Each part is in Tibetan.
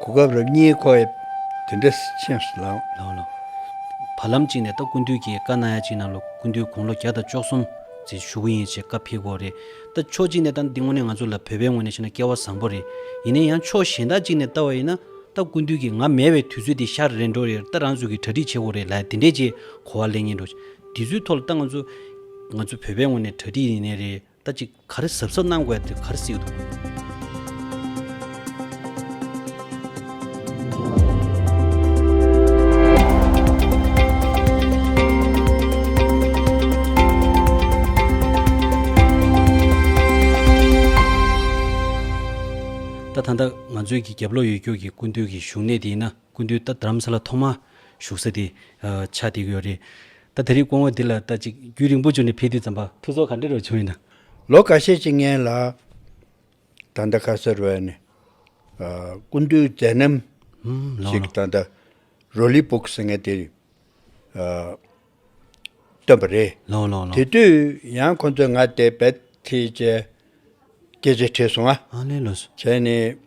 གོ་སྐབས་རབ་གཉིས་ཁོ་ཡབ་དེ་འདྲ་ཆེན་ལགས། བར་ལམ་གཅིག་ནས་ད་སྐུ་མདུན་གྱིས་བཀའ་གནང་ཡ་གཅིག་ནང་ལོ་སྐུ་མདུན་དགུང་ལོ་བརྒྱ་དང་བཅོ་གསུམ་ཟིན་བཞུགས་ཀྱི་ཡིན་ཞེས་བཀའ་ཕེབས་སྐོར་རེད་ད་ཕྱོགས་གཅིག་ནས་ད་འདི་དངོས་གནས་ང་ཚོ་ལ་བོད་པའི་ངོས་ནས་བཤད་ན་སྐལ་བ་བཟང་པོ་རེད་ཡིན་ན་ཡང་ཕྱོགས་གཞན་དག་གཅིག་ནས་ལྟ་བ་ཡིན་ན་ད་སྐུ་མདུན་གྱིས་ང་མེད་བའི་དུས་ཚོད་དེ་ཤར་རེད་འགྲོ་ཡར་ད་རང་ཚོད་ཀྱིས་གྲ་སྒྲིག་བྱེད་དགོས་རེད་ལ་དེ་འདྲས་ཀྱི་གོ་བ་ལེན་ངེས་འགྲོ་འདི་ཚོའི་ཐོག་ལ་ད་ང་ཚོ་ང་ཚོ་བོད་པའི་ངོས་ནས་གྲ་སྒྲིག་ཡིན་ནའི་རེད། ད་ཅི་ག་རེ་གཟབ་གཟབ་གནང་དགོས་དེ་ག་རེ་གཟིགས་འདུག། ད་ད་ང་ཚོའི་གི་རྒྱབ་ལོག་ཡོད་རྒྱུ་གི་སྐུ་མདུན་གི་བཞུགས་གནས་དེ་ཡིན་ན། ཀུན་འདུས་རྟ་དརམ་ས་ལ་ཐོག་མ་བཞུགས་ས་དེ། ཆ་དེ་ཡོད་རེད། ད་དེ་རིགས་སྐོང་བ་འདི་ལ་ལྟ་ཅིག་རྒྱུད་རིང་པོ་བཅུ་ནས་ཕེབས་དུས་ཙམ་པ། ཐུགས་སྲོག་ག་འདྲེ་རུ་བྱུང་ཡིན་ན། ལོ་ག་ཤས་ཀྱི་སྔན་ལ། ད་ལྟ་ཁ་སར་བས་ནས། ཀུན་འདུས་མཛད་རྣམ་ཞིག་ད་ལྟ་རོ་ལི་པུག་ཟེར་མཁན་དེ། བཏོན་པ་རེད། དེ་དུས་ཡང་ཁོང་ཚོས་ང་དེ་བད་དེ་བཅས་སྐད་ཆ་དྲིས་སོང་ཨ། བྱས་ནས།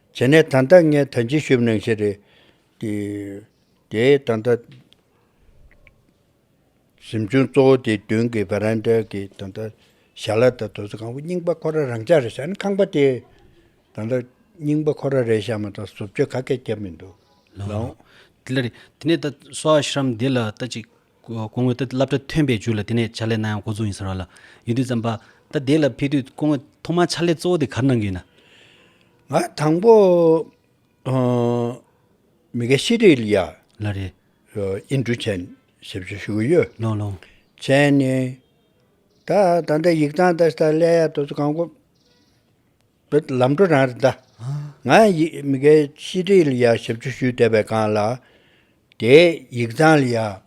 བྱས་ནས་ད་ལྟ་ངས་ད་ཅི་ཞུས་ནང་བཤད་རེད། དེ་ད་ལྟ་གཟིམ་ཆུང་གཙོ་བོ་དེའི་མདུན་གྱི་བྷེ་རན་དཱའི་གི་ད་ལྟ་ཞྭ་ལ་དང་དོ་ཟ་ཁང་བུ་རྙིང་པ་ཁོ་ར་རང་ཅག་རེད་བྱས་ན་ཁང་པ་དེ་ད་ལྟ་རྙིང་པ་ཁོ་ར་རེད་བྱས་མ་ཐག་བཟོ་བཅོས་ག་གེ་བརྒྱབ་མི་འདུག་ལོང། དེ་ལ་རེད། དེ་ནས་ད་སོ་ཨ་ཤི་རམ་དེ་ལ་ད་ཅིག། སྐུ་ངོས་ད་བསླབ་གྲྭ་ཐོན་པའི་རྒྱུ་ལ་དེ་ནས་བྱ་ལས་གནང་ཡང་འགོ་བཙུགས་ཡིན་ཟེར་བ་ལ་ཡུན་དུས་ཙམ་པ། ད་དེ་ལ་ཕེབས་དུས་སྐུ་ངོས་ཐོག་མར་ཕྱག་ལས་གཙོ་བོ་དེ་གར་གནང་གི་ཡིན་ན། ང་དང་པོ། མི་ཀ་ཤི་རི་ལི་ཡ། ལ་རེད། ཨིན་འབྲུ་ཆན་ཞེས་པ་ཞིག་ཞུ་གི་ཡོད། ལོང་ལོང། ཆན་ནི། ད་ད་ལྟ་ཡིག་ཚང་ད་ལྟ་ཀླད་ཡ་དོ་ཚོ་གང་དགོས། བོད་ལམ་འགྲོ་རང་རེད་ད། ང་ཡང་ཡིག་མི་དགའི་ཤི་ཁྲིད་ལ་ཡང་ཞབས་ཕྱི་ཞུས་བསྡད་པའི་སྒང་ལ། དེའི་ཡིག་ཚང་ལ་ཡང།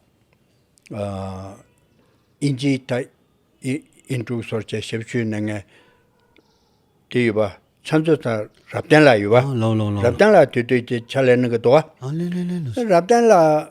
ཨིན་ཇི་ད། ཨིན་ཀྲུག་སོར་བཅས་ཞབས་ཕྱི་ཞུས་ནས་ངས། དེ་ཡོད་པ་ཚང་མཛོད་ཚང་རབ་བརྟན་ལགས་ཡོད་པ། རབ་བརྟན་ལགས་དུས་དུས་ཀྱི་ཕྱག་ལས་གནང་གི་འདུག་ཨ། རབ་བརྟན་ལགས།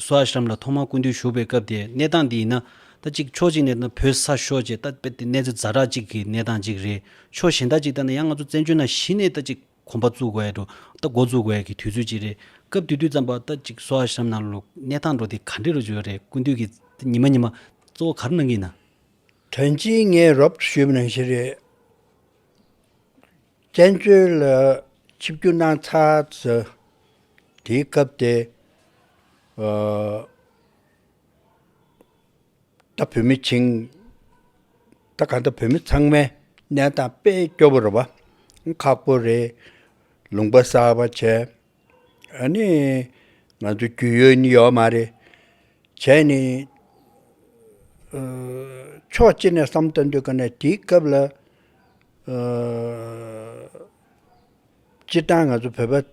སུ་ཨཱ་ཤྲཱམ་ལ་ཐོག་མར་ཀུན་འདུས་བཞུགས་པའི་སྐབས་དེའི་གནས་སྟངས་དེ་ཡིན་ན། ད་ཅིག་ཕྱོགས་གཅིག་ནས་ད་ནི་བོད་ས་ཤོར་རྗེས་ད་དཔེར་དེ་གནས་ཚུལ་ཛ་དྲག་ཅིག་གི་གནས་སྟངས་ཅིག་རེད། ཕྱོགས་གཞན་ད་ཅིག་ད་ནི་ཡང་ང་ཚོ་བཙན་བྱོལ་ན་གཞི་ནས་ད་ཅིག་གོམ་པ་བཙུགས་དགོས་འདུག་ད་མགོ་འཛུགས་དགོས་ཀྱི་དུས་ཚོད་ཅིག་རེད། སྐབས་དེ་དུས་ཙམ་པར་ད་ཅིག་སུ་ཨཱ་ཤྲཱམ་ནང་ལོ་གནས་སྟངས་འགྲོ་དེ་ག་འདྲི་རུ་འཇུག་ཡོད་རེད་ཀུན་འདུས་ཀྱི་ད་ཉི་མ་ཉི་མ་གཙོ་བོ་ག་རུ་གནང་གི་ཡིན་ན། དོན་གཅིག་ངས་རོབ་ཏུ་ཞུས་པ་ནང་བཞིན་རེད། བཙན་བྱོལ་ལ་ཆིབས་བསྒྱུར་གནང་ཚར་ཟེར། དེའི་སྐབས་དེ། ད་བོད་མི་བྱིངས། ད་ག་ད་བོད་མི་ཚང་མའི་གནས་སྟངས་དཔེ་སྐྱོ་པོ་རེད་བ། ཁག་པོ་རེད། ལུང་པ་གསར་བ་བྱས། ཨ་ནི། ང་ཚོ་རྒྱུས་ཡོད་ནི་ཡོད་མ་རེད། བྱས་ནས། ཕྱོགས་གཅིག་ནས་བསམ་དུ་འདོད་གི་ནི་དེའི་སྐབས་ལ། སྤྱིར་བཏང་ང་ཚོ་བོད་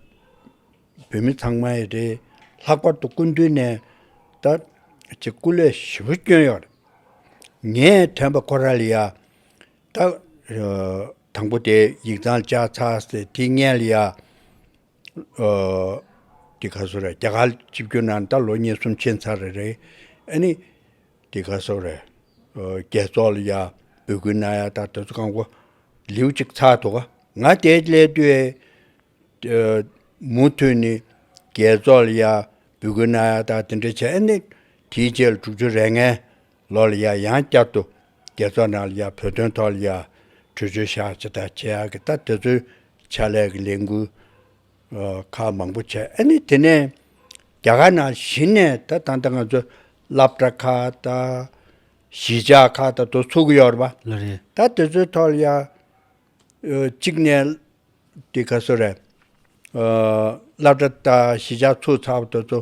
པ། བོད་མི་ཚང་མ་ཡི་རེད། ལྷག་པར་དུ་སྐུ་མདུན་ནས་ད་ཅིག་སྐུ་ལས་ཞི་བོ་བསྐྱོན་ཡོད་རེད། ངས་དྲན་པ་ཁོ་ར་ལི་ཡ། བཏགས། དང་པོ་དེ་ཡིག་ཚང་བཅའ་ཚགས་སེ་ཐི་ངལ་ཡ། དེ་ག་སོགས་རེད་རྒྱ་གར་སྤྱི་བསྒྱུར་ནང་ད་ལོ་ཉེར་གསུམ་ཆེན་ཚར་རེད་རེད་ཨ་ནི། དེ་ག་སོགས་རེད། རྒྱལ་ཚོགས་ལ་ཡ་འབོད་སྐུལ་གནང་ཡ་ད་དེ་ཚོ་གང་བོ་ལེའུ་གཅིག་ཚགས་འདུག་ག་ང་དེ་སླད་དུས་མུ་མཐུད་ནས་རྒྱལ་ཚོགས་ལ་ཡ་འབོད་སྐུལ་གནང་ཡ་ད་དེ་འདྲ་བྱས་ཨ་ནི་དེའི་རྗེས་ལ་དྲུག་ཅུ་རེ་ལྔའི་ལོ་ལ་ཡ་ཡང་བསྐྱར་དུ། རྒྱལ་ཚོགས་ནང་ལ་ཡ་བོད་དོན་ཐོག་ལ་ཡ། གྲོས་ཆོད་བཞག་ཅི་ད་བྱེད་ཨ་གི་ད་དེ་ཚོའི། ཕྱག་ལས་ཀྱི་ལས་འགུལ། ཁག་མང་པོ་བྱས་ཨ་ནི་དེ་ནས། རྒྱ་གར་ནང་གཞི་ནས་ད་ད་ད་ང་ཚོ། སླབ་གྲ་ཁག་ད། གཞིས་ཆགས་ཁག་ད་དོ་ཚུགས་ཀྱི་ཡོད་རེད་པ། ལ་རེད། ད་དེ་ཚོའི་ཐོག་ལ་ཡ། གཅིག་ནས། དེ་ག་སོ་རེད། སླབ་གྲ་ད་གཞིས་ཆགས་ཚུགས་ཚར་བ་དེ་ཚོ།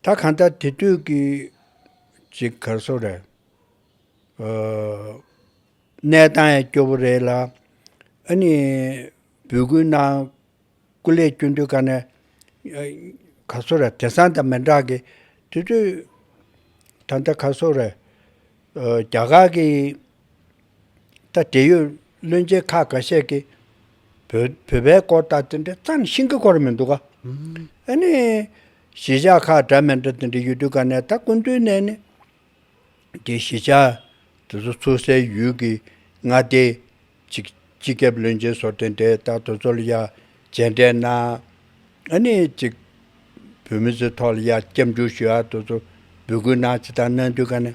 ད་གང་ལྟར་དེ་དུས་ཀྱི་ཅིག་གར་སོ་རེད། གནས་སྟངས་ཡང་སྐྱོ་བོ་རེད་ལ། ཨ་ནི་འབོད་སྐུལ་གནང་སྐུ་ལས་སྐྱོན་དུས་ཀ་ནས་གར་སོ་རེད་དེ་སང་དང་མི་འདྲ་གི་དེ་དུས་ད་ལྟ་གར་སོ་རེད། རྒྱ་གར་གྱི། ད་འབྲེལ་ཡོད་བློན་ཆེན་ཁག་འགའ་ཤས་ཀྱིས། བོད་པའི་སྐོར་ལྟ་དེ་འདྲའི་རྩ་ནས་ཤིང་གི་སྐོར་མི་འདུག་ག། ཨ་ནི། གཞིས་ཆགས་ཁག་འདྲ་མི་འདྲ་དེ་འདྲ་ཡོད་དུས་ག་ནས་ད་ཀུན་ཏུའི་གནས་ནི། དེ་གཞིས་ཆགས་དེ་ཚོ་ཚུགས་སའི་ཡུལ་གྱི་མངའ་སྡེ། གཅིག་སྤྱི་ཁྱབ་བློན་ཆེན་སོགས་དེ་འདྲའི་ད་དུ་ཚོ་ལ་ཡ་མཇལ་འདྲའི་གནང། ཨ་ནི་གཅིག། བོད་མི་ཚོའི་ཐོག་ལ་ཡ་སྐྱབས་འཇུག་ཞུ་ཡ་དུ་ཚོ་འབོད་སྐུལ་གནང་ཅི་ད་གནང་དུས་ག་ནས།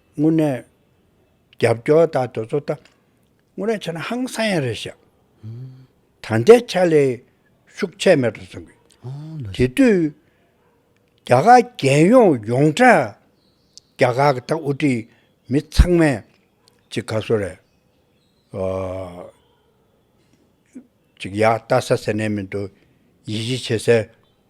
དངོས་གནས། རྒྱབ་སྐྱོར་དང་དོལ་ཚོགས་དང་དངོས་གནས་བྱས་ན་ཧང་སང་ཡང་རེད་བཤད། ད་ལྟའི་ཆ་ལས་ཤུགས་ཆད་མེད་དུ་སོང་གི། དེ་དུས་རྒྱ་གར་རྒྱལ་ཡོངས་ཡོངས་གྲགས་རྒྱ་གར་གྱི་ད་དབུ་ཁྲིད་མི་ཚང་མས་ཅིག་ག་སོ་རེད། ཅིག་ཡག་བལྟ་ས་ཟེར་ནས་མི་འདུག་ཡིད་གཞི་བྱེད་སའི་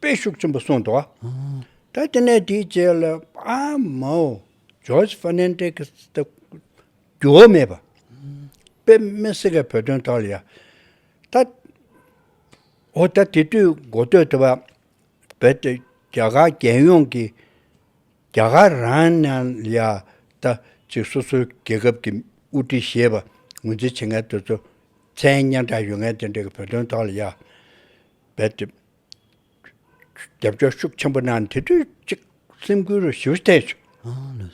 པའི་ཤུགས་ཆེན་པོ་གསུངས་འདུག་ད་དེ་ནས་དེའི་རྗེས་ལ་ཨ་མའོ George Fernandez ད་རྒྱུ་བ་མེད་པ་པའི་མེ་སི་ཀའི་བོད་དོན་ཐོག་ལ་ཡང་ད་འོ་ད་དེ་དུས་འགོ་སྟོད་དུ་བ་བོད་དེ་རྒྱ་གར་རྒྱལ་ཡོངས་ཀྱི་རྒྱ་གར་རང་ནང་ལ་ཡང་ད་ཅིག་སོ་སོའི་རྒྱལ་ཁབ་ཀྱི་དབུ་ཁྲིད་ཞེས་པ་ངོས་འཛིན་བྱེད་མཁན་དེ་ཚོ་མཚན་སྙན་གྲགས་ཡོད་མཁན་དེ་འདྲ་གི་བོད་དོན་ཐོག་ལ་ཡང་བོད་དེ། རྒྱབ་སྐྱོར་ཤུགས་ཆེན་པོ་གནང་དེ་དུས་གཅིག་སེམས་ཁུར་རུ་ཞུ་ཐལ་བྱུང།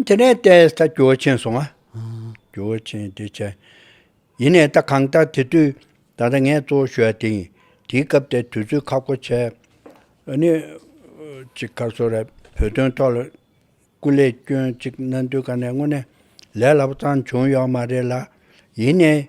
དེ་ནས་བལྟས་ས་སྐྱོ་ཆེན་སོང། སྐྱོ་ཆེན་བདེ་ཆེན། ཡིན་ནས་ད་གང་ལྟར་དེ་དུས་ད་ལྟ་ངས་གཙོ་བོ་ཞུ་ཡ་དེ་ཡིན། དེའི་སྐབས་དེར་དུས་ཚོད་ཁག་པོ་བྱས། ནི། ཅིག་ཁ་སོ་རས་བོད་དོན་ཐོག་ལ་སྐུ་ལས་སྐྱོན་ཅིག་གནང་དུས་ག་ནས་དངོས་གནས་ལས་སླ་པོ་ཙང་བྱུང་ཡོག་མ་རེད་ལ། ཡིན་ནས།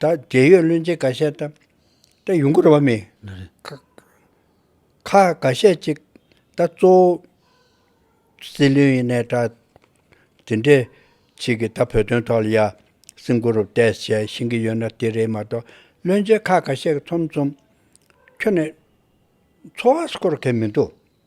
ད་རྒྱལ་ཡོད་བློན་ཆེན་འགའ་ཤས་ད་ད་ཡོང་གི་རེད་བ་མི་ཁ་འགའ་ཤས་ཅིག་ད་གཙོ་བོ་སྲིད་བློན་ཡིན་ནའི་ད་དེ་འདྲའི་ཆིག་གིས་ད་བོད་དོན་ཐོག་ལ་ཡར་སྲིང་གུ་རུ་བལྟས་བྱས་བཞིན་གི་ཡོད་ན་དེ་རེད་མ་གཏོགས་བློན་ཆེན་ཁ་འགའ་ཤས་ཀྱི་ཚོམ་ཚོམ་ཁྱོད་ནས་འཚོ་བ་སྐོར་མཁན་མི་འདུག།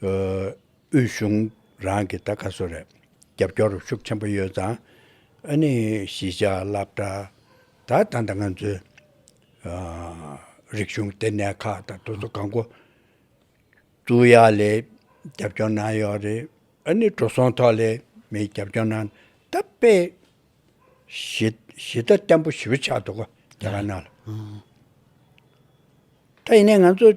དབུས་གཞུང་རང་གིས་ད་ག་ཟོ་རེད། རྒྱབ་སྐྱོར་ཤུགས་ཆེན་པོ་ཡོད་ཙང་ཨ་ནི་གཞིས་ཆགས་བསླབ་གྲྭ་དག་ད་ལྟ་ང་ཚོའི་རིག་གཞུང་ལྟེ་གནས་ཁག་དང་དུ་ཚོགས་གང་དགོས་གཙུག་ཡ་ལས་རྒྱབ་སྐྱོར་གནང་ཡོད་རེད། ཨ་ནི་འགྲོ་སོང་ཐོག་ལས་མི་རྒྱབ་སྐྱོར་གནང་ད་དཔེ་གཞི་གཞི་བདག་བརྟན་པོ་ཞིབ་ཆགས་འདུག་རྒྱ་གར་ནང་ལ། ད་ཡིན་ནས་ང་ཚོ།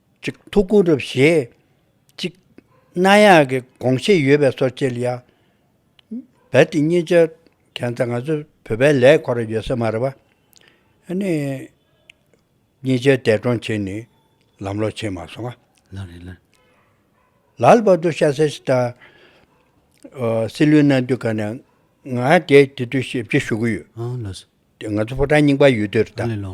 གཅིག་ཐུགས་དགུ་རུ་བཞེས། གཅིག། གནའ་ཡག་གི་དགོངས་བཞེད་ཡོད་པའི་སོར་ཕྱེ་ལ། བལ་ཏི་གཉིས་ཆ། གན་ས་ང་ཚོ་བོད་པའི་ལས་འཁོར་ཡོད་ས་མ་རེད་པ། ཨ་ནི། གཉིས་ཆའི་འདས་གྲོངས་ཕྱིན་ནས་ལམ་ལོག་ཕྱིན་མ་སོང་ང། ལ་རེད་ལ། ལར་བར་དུ་ཤ་སེ་ཤི་ད། སྲིད་བློན་གནང་དུས་ག་ནས། ང་དེ་དུས་ཞིབ་ཕྱི་ཞུ་གི་ཡོད། ཨང་ལོས། ང་ཚོ་ཕོ་བྲང་རྙིང་པ་ཡོད་དུས་རེད་ད། ཨང་ལས་ལོ།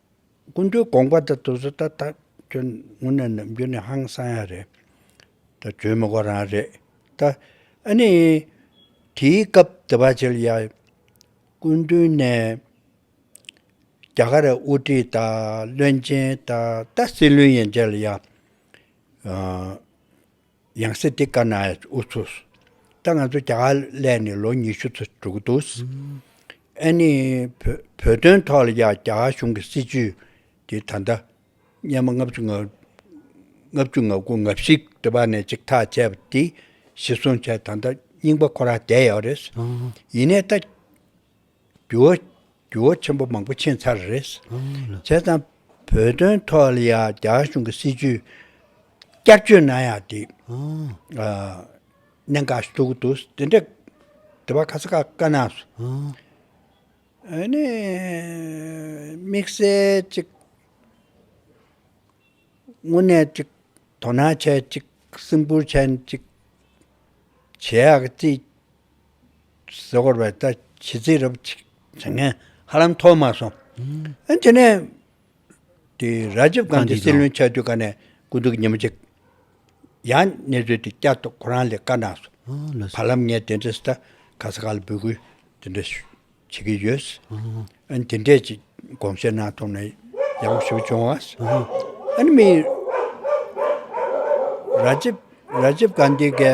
ཀུན་ཏུ་དགོངས་པ་དེ་ཏུ་སུ་ད་ད་ཁྱོད་དངོས་གནས་ནུབ་རྒྱུ་ནི་ཧང་སང་ཡ་རེད་ད་བྱོན་མི་དགོ་རང་རེད་ད། ཨ་ནི། དེའི་སྐབས་དེ་བ་ཆེ་ལ་ཡ། ཀུན་ཏུ་ནས། རྒྱ་གར་རེ་དབུ་ཁྲིད་ད་བློན་ཆེན་ད་ད་སྲིད་བློན་ཡན་ཆད་ལ་ཡ། ཡང་སྲིད་དེ་བཀར་ན་འུ་ཚོ། ད་ང་ཚོ་རྒྱ་གར་གླས་ནས་ལོ་ཉི་ཤུ་ཚུ་འགྲོ་གི་འདུག། ཨེ་ནི། བོད་དོན་ཐོག་ལ་ཡང་རྒྱ་གར་གཞུང་གི་སྲིད་བྱུས་དེ་ད་ལྟ། སྙན་མོ་ལྔ་བཅུ་ང་བཅུ་ང་དགུ་ང་བཞི་འདི་བར་ནས་ཅིག་ཐག་བཅད་པ་དེ་གཞི་བཟུང་བྱས་ད་ལྟ་རྙིང་པ་ཁོ་རང་བསྡད་ཡོད་རེད། ཡིན་ནས་ད། འགྱུར་བ་འགྱུར་བ་ཆེན་པོ་མང་པོ་ཕྱིན་ཚར་རེད། བྱས་ཙང་བོད་དོན་ཐོག་ལ་ཡང་རྒྱ་གཞུང་གི་སྲིད་བྱུས་བསྐྱར་བཅོས་གནང་ཡག་དེ་གནད་འགག་ཞིག་ཐུག་གི་འདུག་དེ་འདྲ་དེ་བ་ཁ་ས་ཁ་བཀའ་གནང་སོང། ཨ་ནི་དམིགས་བསལ་ཅིག་དངོས་གནས་ཅིག་དོ་སྣང་བྱས་ཅིག་སེམས་ཁུར་བྱས་ཅིག་བྱེད་ཡག་གི་རྩིས་གཟིགས་སྐོར་བའི་ལྟ་བྱེད་རྩིས་རབ་ཅིག་བྱེད་མཁན་ཧ་ལམ་མཐོ་དམའ་སོང། དེ་ནས། དེ་རཱ་ཇིབ་གྷན་དྷི་སྲིད་བློན་ཆགས་དུས་ཀ་ནས་སྐུ་གདུང་ཉིན་མོ་གཅིག། ཡང་གནས་ཚུལ་དེ་བསྐྱར་དུ་ཁོ་རང་ལས་བཀའ་གནང་སོང། བར་ལམ་ངས་དེ་འདྲའི་སྟ་ག་ས་ག་ལ་འབུད་སྐུལ་དེ་འདྲ་བྱེད་ཀྱི་ཡོད། དེ་འདྲའི་ཅིག་དགོངས་བཞེས་གནང་ཐུབ་ན་ཡག་པོ་ཞིག་བྱུང་བ། མི་རཱ་ཇིབ་གྷན་དྷི་གའི་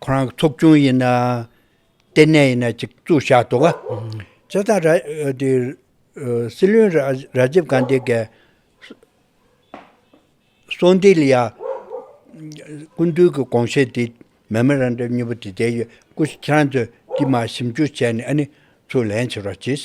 ཁོ་རང་གི་ཚོགས་ཆུང་ཡིན་ན། ལྟེ་གནས་ཡིན་ན་གཅིག་བཙུགས་བཞག་འདུག་ག། བྱས་ཙང་སྲིད་བློན་རཱ་ཇིབ་གྷན་དྷི་གི་གསོལ་འདེབས་ལ་སྐུ་མདུན་གྱི་དགོངས་བཞེད་དེ་མེ་མ་རང་འདྲ་མྱུར་བུ་དེ་དེ་ཡོད་སྐུ་ཁྱེད་རང་ཚོས་དྲི་མ་ཞིབ་འཇུག་བྱས་ནས་ཨ་ནི་ཚུར་ལན་བྱེད་རོགས་གྱིས།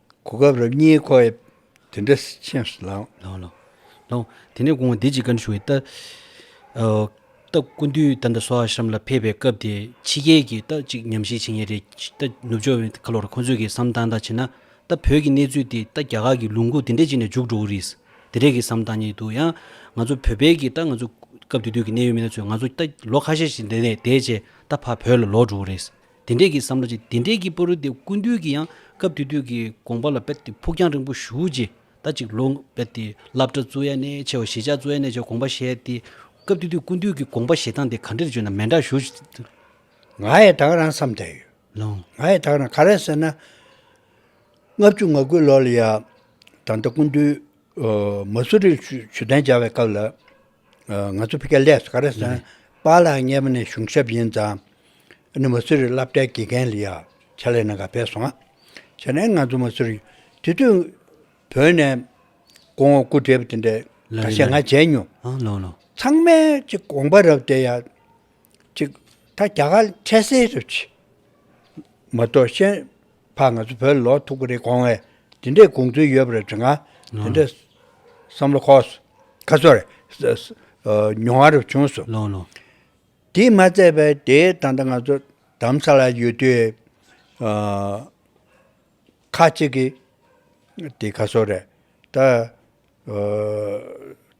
གོ་སྐབས་རབ་རྙེད་ཁོ་ཡབ་དེ་འདྲ་ཆེན་ལགས། དེ་ནས་གོང་བདེ་ཅིག་བཀའ་འདྲི་ཞུ་བའི་རྟགས། སྐུ་མདུན་རྟ་མདའ་སོགས་ཨ་ཤྲམ་ལ་ཕེབས་པའི་སྐབས་དེ་ཕྱི་རྒྱལ་གྱི་རྟགས་གཅིག་ཉམས་བཞེས་བྱེད་ངེས་རེད། ནུབ་ཕྱོགས་བའི་ཁ་ལོ་ར་ཁོང་ཚོས་ཀྱི་བསམ་སྟངས་དང་བྱེད་ན། རྟ་བོད་ཀྱི་གནས་ཚུལ་དེ་རྟ་རྒྱ་གར་གྱི་ལུང་ཁུག་དེ་འདྲས་ཅིག་ནས་འཇུག་འགྲོ་གི་རེད། དེ་འདྲས་ཀྱི་བསམ་སྟངས་རྙེད་འདུག་ཡང། ང་ཚོ་བོད་པའི་ཀྱི་རྟ་ང་ཚོ་སྐབས་དེ་དུས་ཀྱི་གནད་ཡོད་མི་སྣ་ཚོས་ང་ཚོ་རྟ་ལོ་ཁ་ཤས་ཤིག་འདས་རྗེས་རྟ་ཕ་བོད་ལ་ལོག་འགྲོ་གི་རེད། དེ་འདྲས་ཀྱི་བསམ་བློ་ཅིག་དེ་འདྲས་ཀྱི་པོ་རུ་དེ་ཀུན་འདུས་ཀྱི་ཡང་སྐབས་དུས་དུས་ཀྱི་དགོངས་པ་ལ་རྦད་དེ་ཕུགས་རྒྱང་རིང་པོ་བཞུགས་རྗེས་ད་ཅིག་ལོ་རྦད་དེ་བསླབ་གྲྭ་བཙུགས་ཡ་ནས་ཆེ་བ་གཞིས་ཆགས་བཙུགས་ཡ་ནས་ཆེ་བ་དགོངས་པ་བཞེས་ཏེ། སྐབས་དུས་དུས་ཀུན་འདུས་ཀྱི་དགོངས་པ་བཞེས་སྟངས་དེ་ག་འདྲེར་བརྗོད་ན་མན་འདྲ་ཞུ། ང་ཡི་དྭགས་རང་བསམ་བསྡད་ཡོད། ང་ཡི་དྭགས་རང་ག་རེད་ཟེར་ན། ལྔ་བཅུ་ང་དགུ་ལོ་ལ་ཡང་ད་ལྟ་ཀུན་འདུས་མ་སུ་རིར་ཇུས་གཏན་སྦྱར་བའི་སྐབས་ལ། ང་ཚོ་ཕི་ག་ལེ་སི་ཀ་ར་སན་པ་ལ་ངེད་པ་ནས་གཞུང་ཞབས་ཡིན་ཙང་ནི་མ་སུ་རི་བསླབ་གྲྭའི་དགེ་རྒན་ལི་ཡ་ཆ་ལེ་ན་ག་བས་སོང་བྱས་ནས་ང་ཚོ་མ་སུ་རི་དེ་དུས་བོད་ནས་དགོངས་བ་སྐུ་བསྒྲལ་བ་དེ་འདྲ་ག་ཤེད་ང་བྱས་མྱོང་ཚང་མའི་ཅི་དགོངས་པ་རབ་བལྟས་ཡ། གཅིག། ད་རྒྱ་གར་འཕྲལ་སེལ་རེད་བྱས། མ་གཏོགས་ཤན་ཕག་ང་ཚོ་བོད་ལ་ལོག་ཐུག་གི་རེད་དགོངས་བས་དེ་འདྲའི་དགོངས་ཚུལ་ཡོད་པ་རེད་དྲི་ང་དེ་འདྲའི་བསམ་བློ་ཁོག་སོ། ཁ་སོར། མྱོང་བ་རུ་བྱུང་སོ། དེས་མ་བརྩད་པས་དེ་ད་ལྟ་ང་ཚོ་དམ་ས་ལ་ཡོད་དུས། ཁ་ཅིག་གིས་དེ་ཁ་སོར་རེད། ད།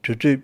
དུས་ཚོད།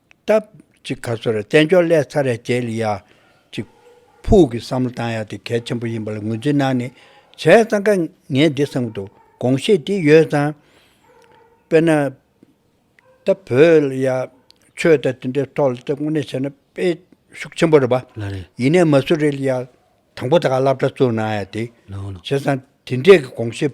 སྟབས། གཅིག་ག་སོ་ར་བཙན་བྱོལ་སླད་ཚ་རེ་བྱེད་ལ་ཡ། གཅིག། ཕུགས་ཀྱི་བསམ་བློ་བཏང་ཡ་དེ་གལ་ཆེན་པོ་ཡིན་པ་ལ་ངོས་འཛིན་གནང་ནས་བྱས་ཙང་ཀ་ངས་འདི་བསམ་གི་འདུག་དགོངས་བཞེས་དེ་ཡོད་ཙང། དཔེར་ན། ད་བོད་ལ་ཡ། ཆོས་དད་དེ་འདྲའི་ཐོག་ལ་དེ་དངོས་གནས་བྱས་ན་དཔེ་ཤུགས་ཆེན་པོ་རེད་པ། ལ་རེད། ཡིན་ནས་མ་སུ་རི་ལ་ཡ། དང་པོ་ད་ག་བསླབ་གྲྭ་བཙུགས་གནང་ཡ་དེ། ལོ། བྱས་ཙང་དེ་འདྲས་ཀྱི་དགོངས་བཞེས།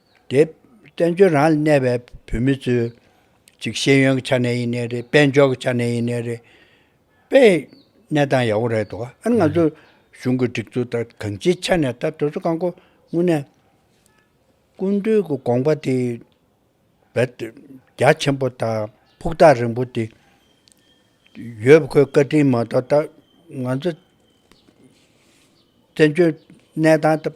རེད། བཙན་བྱོལ་རང་ལ་གནས་པའི་བོད་མི་ཚོས། གཅིག་ཤེས་ཡོན་གྱི་ཆ་ནས་ཡིན་ནའི་རེད། དཔལ་འབྱོར་གྱི་ཆ་ནས་ཡིན་ནའི་རེད། པའི་གནས་སྟངས་ཡག་པོ་རེད་དོ། ཨ་ནི་ང་ཚོས་གཞུང་གི་སྒྲིག་འཛུགས་ལྟར་གང་ཅིའི་ཆ་ནས་ད་དུས་ཚོད་གང་དགོས་སྔོན་ནས། ཀུན་བཏུས་ཀྱི་དགོངས་པ་དེ་རྦད་དེ་རྒྱ་ཆེན་པོ་དང་ཕུགས་ཐག་རིང་པོ་དེ། ཡོད་པ་ཁོའི་བཀའ་དྲིན་མ་གཏོགས་ད་ང་ཚོ་བཙན་བྱོལ་གནས་སྟངས་ད།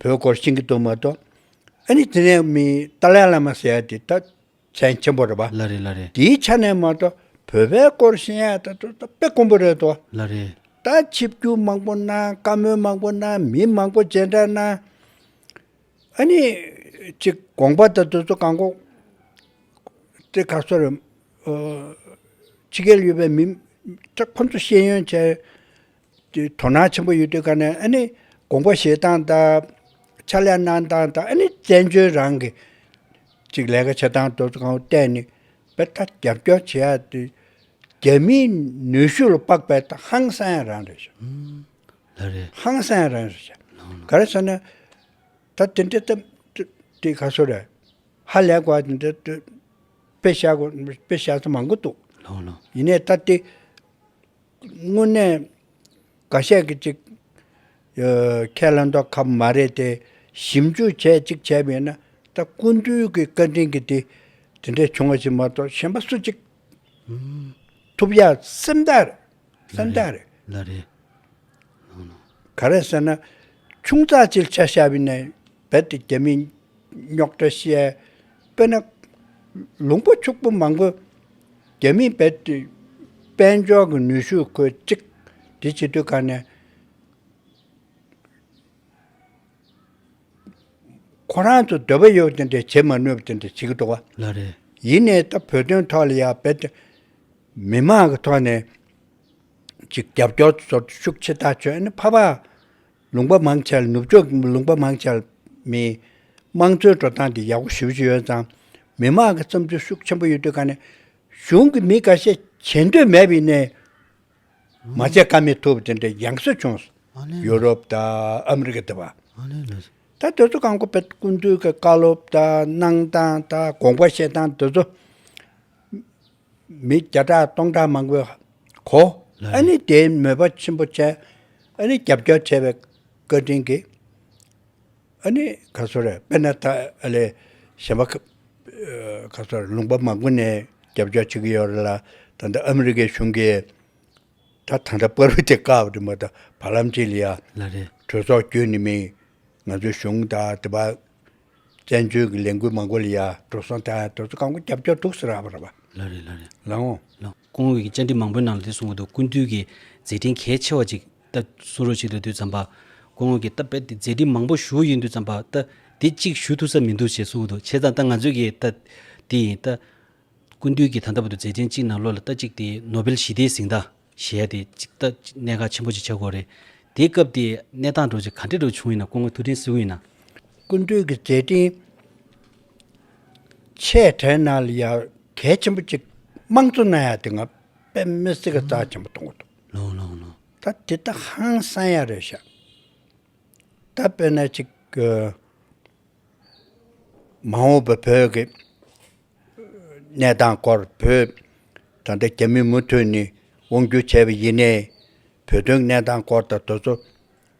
བོད་སྐོར་ཤེས་ཀྱི་འདུག་མ་གཏོགས། ཨ་ནི་དེ་ནས་མི་ཏཱ་ལའི་བླ་མ་ཟེར་ཡ་དེ་ད་མཚན་ཆེན་པོ་རེད་པ། ལ་རེད་ལ་རེད། དེའི་ཆ་ནས་མ་གཏོགས་བོད་པའི་སྐོར་ཤེས་ཡ་ད་དོ་ད་དཔེ་དཀོན་པོ་རེད་དོ། ལ་རེད། ད་ཆིབས་བསྒྱུར་མང་པོ་གནང་བཀའ་མོལ་མང་པོ་གནང་མི་མང་པོ་མཇལ་འཕྲད་གནང། ཨ་ནི་ཅིག་དགོངས་པ་ད་དོ་ཚོ་གང་གོ། དེ་ག་ཚོར་རེད། ཕྱི་རྒྱལ་ཡོད་པའི་མི་ཁྱོད་ཁོ་ཚོ་ཤེས་ཡོན་བྱས། དུས་དོ་སྣང་ཆེན་པོ་ཡོད་དུས་ཀ་ནས་ཨ་ནི་དགོངས་པ་བཞེས་སྟངས་དང། ཕྱག་ལས་གནང་སྟངས་དང་ཨ་ནི་བཙན་བྱོལ་རང་གི་ཅིག་ལས་ཀ་བྱེད་སྟངས་དུ་གང་བལྟས་ནས་དཔེ་ལྟ་རྒྱབ་སྐྱོར་བྱེད་ཡག་དུས། རྒྱ་མིའི་ནུས་ཤུགས་ལ་དཔག་པའི་ཐོག་ཧང་སངས་རང་རེད་བྱ། ལ་རེད། ཧང་སངས་རང་རེད་བྱ། ལང། ག་རེ་བྱ་ན། ད་དེ་འདྲའི་ཏམ། དེ་ག་སོ་རེད། ཧ་ལས་གོ་དེ་འདྲའི། དཔེ་བྱ་གོ་དཔེ་བྱ་ས་མང་པོ་འདུག། ལོང་ལོང། ཡིན་ནས་ད་དེ། དངོས་གནས་འགའ་ཤས་ཀྱི་ཅིག། ཁས་ལེན་ཐོག་ཁབ་མ་རེད་དེ། ཞིབ་འཇུག་བྱས་གཅིག་བྱས་མེད་ན་ད་སྐུ་མདུན་གྱི་བཀའ་དྲིན་གྱིས་དེ་དེ་འདྲས་བྱུང་བ་ཞིག་མ་གཏོགས་གཞན་པ་སུ་གཅིག། ཐུབ་ཡ་སེམས་ཐག་རེད་སེམས་ཐག་རེད། ལ་རེད། ག་རེད་ཟེར་ན། ཆུང་ཙག་ཅིག་ལ་ཆ་ཤ་བས་ནས་རྦད་དེ་རྒྱ་མིའི་རྙོག་དྲ་བཤད། དཔེར་ན། ལུང་པ་ཕྱུག་པོ་མང་པོས་རྒྱ་མིས་རྦད་དེ་དཔལ་འབྱོར་གྱི་ནུས་ཤུགས་ཁོས་གཅིག་སྒྲིལ་བྱེད་དུས་ཁ་ནས། ཁོ་རང་ཚོ་འདོད་པ་ཡོད་དེ་འདྲ་བྱེད་མ་ནུས་པ་དེ་འདྲ་བྱེད་ཀྱི་འདུག་བ། ཡིན་ནའི་ད་བོད་དོན་ཐོག་ལ་ཡང་རྦད་དེ་མི་མང་གི་ཐོག་ནས་ཅིག་རྒྱབ་སྐྱོར་ཚོར་ཤུགས་ཆེ་ཐག་ཆོད་ཨེ་ཕ་པ། ལུང་པ་མང་ཆེ་ནུབ་ཕྱོགས་ཀྱི་ལུང་པ་མང་ཆེ་མིན། དམངས་གཙོའི་འགྲོ་སྟངས་འདི་ཡག་པོ་ཞུ་བཞིན་ཡོད་ཙང། མི་དམངས་ཀྱི་བསམ་ཚུལ་ཤུགས་ཆེན་པོ་ཡོད་དུས་ཀ་ནས། གཞུང་གིས་མི་འགའ་ཤས་བྱེད་འདོད་མེད་པའི་ནས། མ་བྱས་ཀ་མེད་ཐུབ་དེ་འདྲའི་ཡང་སྲིད་བྱུང། ཡུ་རོབ་དང་ཨ་མི་རི་ཀ་དེ་བ། ད་དེ་ཚོ་གང་གོ་བེད་ཀུན་འདུས་ཀྱི་བཀའ་སློབ་དང་གནང་སྟངས་དང་དགོངས་པ་བཞེས་སྟངས་དེ་ཚོ། མི་བརྒྱ་ཕྲག་སྟོང་ཕྲག་མང་པོའི་གོ། ཨ་ནི་དེའི་མོས་པ་ཆེན་པོ་བྱས། ཨ་ནི་རྒྱབ་སྐྱོར་བྱས་པའི་བཀའ་དྲིན་གྱིས། ཨ་ནི་ག་སོ་རས་པེ་ནཱ་ཐ་ཨ་ལའི་གཞན་པ་ག་སོ་རས་ལུང་པ་མང་པོ་ནས་རྒྱབ་སྐྱོར་བྱེད་ཀྱི་ཡོད་རེད་ལ། ད་ལྟ་ཨ་མི་རི་ཀའི་གཞུང་གིས་ད་ད་ལྟ་པར་བུ་དེ་བཀག་པ་དེ་མ་ད་བར་ལམ་ཆེན་ལ་ཡང་གྲོས་ཚོགས་བསྐྱོད་ནི་མིན། ང་ཚོའི་གཞུང་ད་ད་བར་བཙན་བྱོལ་གྱི་ལས་འགུལ་མང་པོ་ལ་ཡར་འགྲོ་སོང་དེ་ཡང་དེ་ཚོ་རྐང་པ་རྒྱབ་རྒྱབ་འདུག་ཟེར་ར་བ། ལ་རེད་ལ་རེད། ལ་འོང། ལ། ཁོང་གིས་བཅར་འདྲི་མང་པོའི་ནང་ལ་དེ་གསུངས་འདུག་ཀུན་བཏུས་ཀྱི་མཛད་འཕྲིན་གལ་ཆེ་བ་ཅིག་ད་གསུང་རོགས་བྱེད་དུ་དུས་བརྩམས་པ། ཁོང་ངོས་ཀྱིས་ད་དཔེ་དེ་མཛད་འཕྲིན་མང་པོ་ཞུ་ཡིན་དུས་བརྩམས་པ་ད་དེ་གཅིག་ཞུ་ཐུབ་ས་མི་འདུག་ཞེས་གསུངས་འདུག་བྱས་ཙང་ད་ང་ཚོས་ཀྱི་ད་དེ་ཡིན་ད། ཀུན་བཏུས་ཀྱིས་ད་ལྟ་བུ་དུ་མཛད་འཕྲིན་གཅིག་ནང་ལོ་ལ་ད་གཅིག་དེ་ནོ་བེལ་ཞི་བདེའི་གཟེངས་རྟགས། གཞས་དེ་གཅིག་ལྟ་ཅི་གནད་འགག་ཆེན་པོ་ཞིག་ཆགས་སྐོར་རེད། དེའི་སྐབས་དེའི་གནས་སྟངས་འགྲོ་ཆེད་ག་འདྲའི་འགྲོ་བྱུང་ཡིན་ན་སྐུ་ངོ་ཐུགས་འཕྲིན་བསུ་གི་ཡིན་ན། ཀུན་གྲོལ་གྱི་མཛད་འཕྲིན་ཆེ་གྲས་ནང་ལ་ཡང་གལ་ཆེན་པོ་གཅིག་དམངས་གཙོ་ནང་ཡང་དེ་སྔ་དཔེ་མི་སྲིད་ཀྱི་རྩ་ཆེན་པོ་གཏོང་གི་འདུག་ད་དེ་ད་ཧང་སང་ཡ་རེད་བཤད། ད་དཔེར་ན་གཅིག་མ་འོངས་པའི་བོད་ཀྱི་གནས་སྟངས་སྐོར་བོད་དྲ་འདྲེ་རྒྱ་མིས་མུ་མཐུད་ནས་དབང་བསྒྱུར་བྱས་པ་ཡིན་ནས། བོད་དོན་གནས་སྟངས་སྐོར་དང་དོལ་ཚོགས་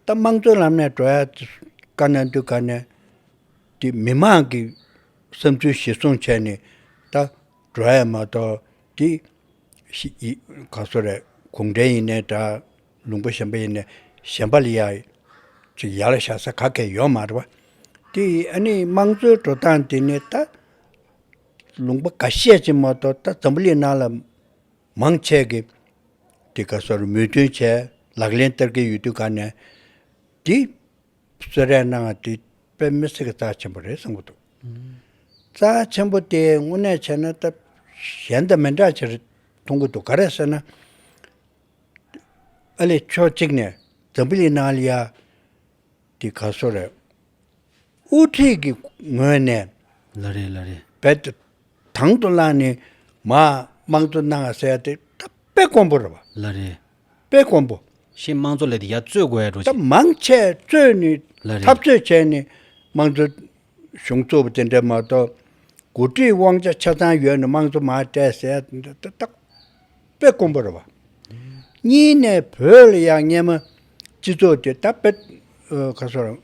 ད་དམངས་གཙོའི་ལམ་ནས་འགྲོ་ཡ་དཀའ་ན་འདུག་ག་ནས་དེ་མི་མང་གི་བསམ་ཚུལ་གཞི་བཟུང་བྱས་ནས་ད་འགྲོ་ཡ་མ་གཏོགས་དེ་ག་ས་རེད་གུང་ཁྲན་ཡིན་ནའི་འདྲ། ལུང་པ་གཞན་པ་ཡིན་ནས་གཞན་པ་ལ་ཡག་ཅིག་ཡར་བཞག་ས་ག་གེ་ཡོད་མ་རེད་པ། དེ་ཡིས་ཨ་ནི་དམངས་གཙོའི་འགྲོ་སྟངས་དེ་ནི་ད་ལུང་པ་ག་བཤད་ཅིག་མ་གཏོགས་ད་འཛམ་བུ་གླིང་ནང་ལ་མང་ཆེ་གེ་དེ་ག་སོར་མོས་མཐུན་བྱས་ལག་ལེན་བསྟར་གི་ཡོད་དུས་ག་ནས་དེ་གསོལ་རས་གནང་ང་དེ་དཔེ་མི་སྲིད་གི་རྩ་ཆེན་པོ་རེད་གསུང་གི་འདུག་རྩ་ཆེན་པོ་དེ་དངོས་གནས་བྱས་ན་ད་གཞན་དང་མི་འདྲ་ཆེ་རེད་མཐོང་གི་འདུག་ག་རེད་ཟེར་ན། ཨ་ལེ་ཕྱོགས་གཅིག་ནས་ཛམ་བི་ལི་ནཱ་ལི་ཡ་འདི་ག་སོ་རེད། དབུ་ཁྲིད་ཀྱི་ངོས་ནས། ལ་རེ་ལ་རེ། བེད་དང་དུ་བླངས་ནས་མ་དམངས་གཙོ་གནང་བ་ཟེར་ཏེ་ད་དཔེ་དཀོན་པོ་རེད་བ། ལ་རེ། དཔེ་དཀོན་པོ། ཤེས་དམངས་གཙོ་ལས་དེ་ཡ་རྩོད་དགོས་ཡ་འགྲོ་ད་བྱེད། མང་ཆས་རྩོད་ནས། ལ་རེ། འཐབ་རྩོད་བྱས་ནས་དམངས་གཙོ་གཞུང་གཙོ་བོ་དེ་འདྲ་མ་གཏོགས་འགོ་ཁྲིད་དབང་ཆ་ཆ་ཚང་ཡོད་ནི་དམངས་གཙོ་མ་སྤྲད་ཟེར་ན་འདི་ལྟ་སྟག་དཔེ་དཀོན་པོ་རེད་བ། གཉིས་ནས་བོད་ལ་ཡང་སྙེ་མ་སྤྱི་ཚོགས་དེ་ད་དཔེ་ག་སོ་རང་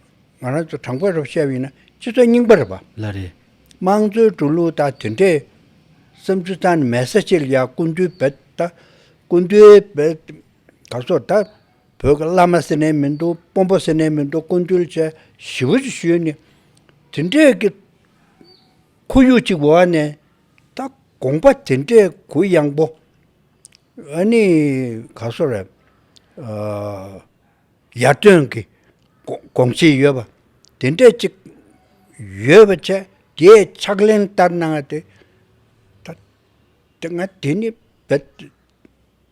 རང་ཚོ་དྲང་པོ་རེད་བཤད་པ་ཡིན་ན་སྤྱི་ཚོགས་རྙིང་པ་རེད་བ། ལ་རེད། དམངས་གཙོའི་འགྲོ་ལུགས་དང་དེ་འདྲའི་བསམ་ཚུལ་ཚང་ནི་མེད་ས་ཅི་ལ་ཡག་ཀུན་འདུས་བེད་ད་ཀུན་འདུས་བེད་ག་སོ་ད། བོད་ཀྱི་བླ་མ་ཟེར་ནས་མི་འདུག་དཔོན་པོ་ཟེར་ནས་མི་འདུག་དཀོན་བཏུལ་བཅས་ཞི་བ་ཅིག་ཞུས་ནས། དེ་འདྲའི་གི་ཁོར་ཡུག་ཅིག་འོག་ནས་ད་དགོངས་པ་དེ་འདྲའི་གུ་ཡངས་པོ་ཨ་ནི་ག་སོ་ར་ཡར་ཐོན་གི་དགོངས་བཞེས་ཡོད་པ་དེ་འདྲས་ཅིག་ཡོད་པ་ཆེ་དེའི་ཕྱག་ལེན་ལྟར་གནང་བ་དེ་ད་དེ་ང་དེ་ནི་བེད་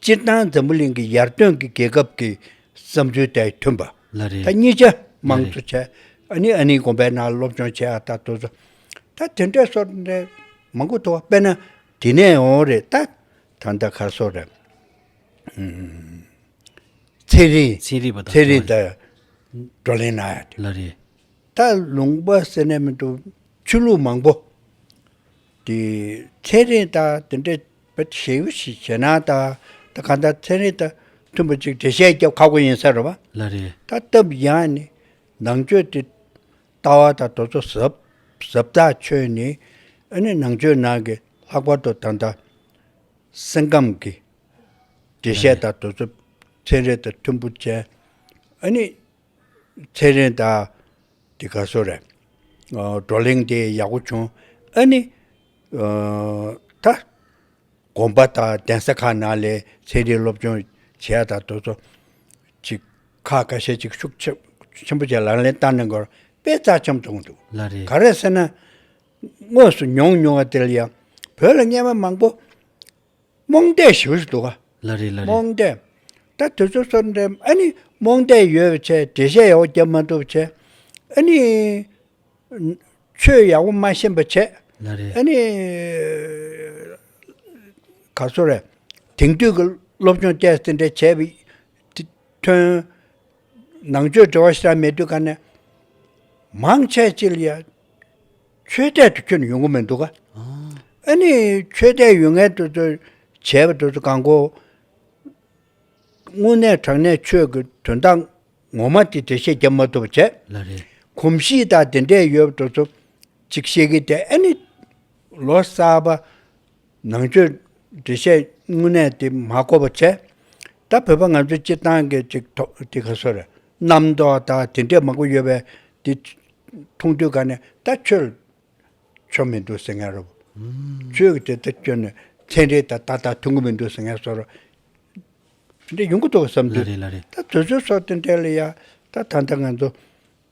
སྤྱིར་བཏང་འཛམ་བུ་གླིང་གི་ཡར་ཐོན་གྱི་རྒྱལ་ཁབ་ཀྱི་བསམ་ཚུལ་དེ་མཐུན་པ། ལ་རེད། ད་གཉིས་ཆ་མང་ལ། ཚུལ་ཆ་ཨ་ནི་ཨ་ནི་དགོན་པའི་ནང་སློབ་སྦྱོང་བྱེད་ཨ་ད་དུ་ཟོ། ད་དེ་འདྲས་སོར་འདྲས་མང་པོ་འདུག་དཔེར་ན་དེ་ནས་འོང་རེད་ད། ད་ད་གར་སོར་རེད། ཚེ་རིང། ཚེ་རིང་བ་དང། ཚེ་རིང་དང། བགྲོ་གླེང་གནང་ཡ་དེ། ལ་རེད། ད་ལུང་པ་ཟེར་ནས་མི་འདུག་ཆོས་ལུགས་མང་པོ། དེ་ཚན་རིག་དང་དེ་འདྲ་བའི་ཞེ་དབྱེ་ཞིག་བྱས་ན་ད་ད་ག་འདྲ་ཚན་རིག་དང་མཐུན་པ་ཅིག་འགྲེལ་བཤད་རྒྱབ་ཁག་པོ་ཡིན་ས་རེད་བ། ལ་རེད། ད་སྟབས་ཡང་ནི་ནང་ཆོས་དེ་ལྟ་བ་དང་དོ་ཚོ་ཟབ་ཟབ་ལྟ་ཆོས་ནི་ཨ་ནི་ནང་ཆོས་ནང་གི་ལྷག་པར་དུ་ད་ལྟ་སེམས་ཁམས་ཀྱི་འགྲེལ་བཤད་དང་དོ་ཚོ་ཚན་རིག་དང་མཐུན་པོ་ཅན་ཨ་ནི། ཚེ་རིང་དག། འདི་ག་སོ་རེད། བགྲོ་གླེང་དེ་ཡག་པོ་བྱུང། ཨ་ནི། ད། དགོན་པ་དང་གདན་ས་ཁག་ནང་ལས་ཚན་རིག་སློབ་སྦྱོང་བྱེད་ཡ་དང་དོལ་ཚོགས། ཅིག། ཁག་ཁ་ཤས་ཅིག་ཤུགས་ཆེན་པོ་བྱས་ལག་ལེན་བསྟར་གནང་དགོས་པའི་རྩ་ཆམ་བཏོང་འདུག་ལ་རེད། ག་རེད་ཟེར་ན། དངོས་སུ་མྱོང་མྱོང་བ་དེ་ལ་ཡང། བོད་ལ་རྔན་པ་མང་པོ། རྨོངས་དད་ཞུ་བཞིན་འདུག་ག། ལ་རེ་ལ་རེ། རྨོངས་དད། ད་དུས་ཚོད་སོར་འདྲེན་ཨ་ནི་རྨོངས་དད་ཡོད་བྱས་འགྲེལ་བཤད་ཡག་པོ་རྒྱབ་མ་ཐུབ་བྱས། ཨ་ནི། ཆོས་ཡག་པོ་མ་ཤེས་པ་བྱས། ལ་རེ། ཨ་ནི། ག་སོ་རེད། དེང་དུས་ཀྱི་སློབ་སྦྱོང་བཅས་ཟིན་འདྲེ་བྱས་པའི། ཐོན། ནང་ཆོས་འབྲེལ་བ་ཤ་མེད་དུས་ག་ནས། མང་ཆད་ཅི་ལ་ཡ། ཆོས་དད་དུ་ཁྱོད་ཡོང་གི་མི་འདུག་ཨ། ནི་ཆོས་དད་ཡོད་ངེས་དུ་བྱས་པ་དེ་ཚོ་གང་གོ། དངོས་གནས་དྲང་གནས་ཆོས་ཀྱི་དོན་དག་ངོ་མ་དེ་འགྲེལ་བཤད་བརྒྱབ་མ་ཐུབ་པ་བྱས། གོམས་གཤིས་དག་དེ་འདྲས་ཡོད་པ་དེ་ཚོ་གཅིག་བཤད་ཀི་དེ་ཨ་ནི་ལོ་གསར་པ། ནང་ཆོས་འགྲེལ་བཤད་དངོས་གནས་དེ་མ་གོ་བ་ཆེ། ད་བོད་པ་ང་ཚོའི་སྤྱིར་བཏང་གི་ཅིག་ཐོག་དེ་ག་སོ་རེད། རྣམ་རྟོག་དག་དེ་འདྲས་མང་པོ་ཡོད་པས་དེ་མཐོང་དུས་ག་ནས་ད་ཆོས་ཆོ་མི་འདུག་ཟེར་ངེས་རོ། ཆོས་ཀྱི་དེ་ལྟར་བསྐྱོན་ནས་ཚན་རིག་དང་ད་ལྟ་ཐུག་གི་མི་འདུག་ཟེར་ངེས་སོ་རོ། དེ་འདྲས་ཡོང་གི་འདུག་བསམ་དུས། ད་བཟོད་བཟོད་སོགས་དེ་འདྲས་ལ་ཡང་ད་ད་ལྟ་ང་ཚོ་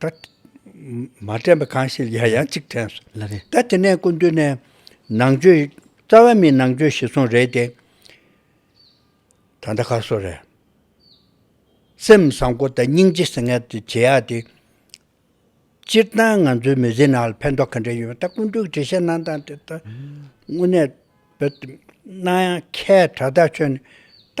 ད། མ་དྲན་པ་གང་ཞིག་ཡང་ཡང་གཅིག་དྲན་སོང། ལ་རེ། ད་དེ་ནས་སྐུ་མདུན་ནས། ནང་ཆོས། རྩ་བ་མིའི་ནང་ཆོས་ཞིག་སོང་རེད་དེ། ད་ལྟ་ག་སོང་རེད། སེམས་བཟང་པོ་དང་སྙིང་རྗེ་སེང་གེ་དེ་བྱེད་ཡག་དེ། སྤྱིར་བཏང་ང་ཚོའི་མི་ཚེའི་ནང་ལ་ཕན་ཐོགས་ག་འདྲ་ཡོད་མེད་ད་སྐུ་མདུན་གྱི་འགྲེལ་བཤད་གནང་སྟངས་དེ་ད་དངོས་གནས་བོད་དུ་གནང་ཡང་ཁྱད་དྲག་ད་ཁྱོད་ནས་ད་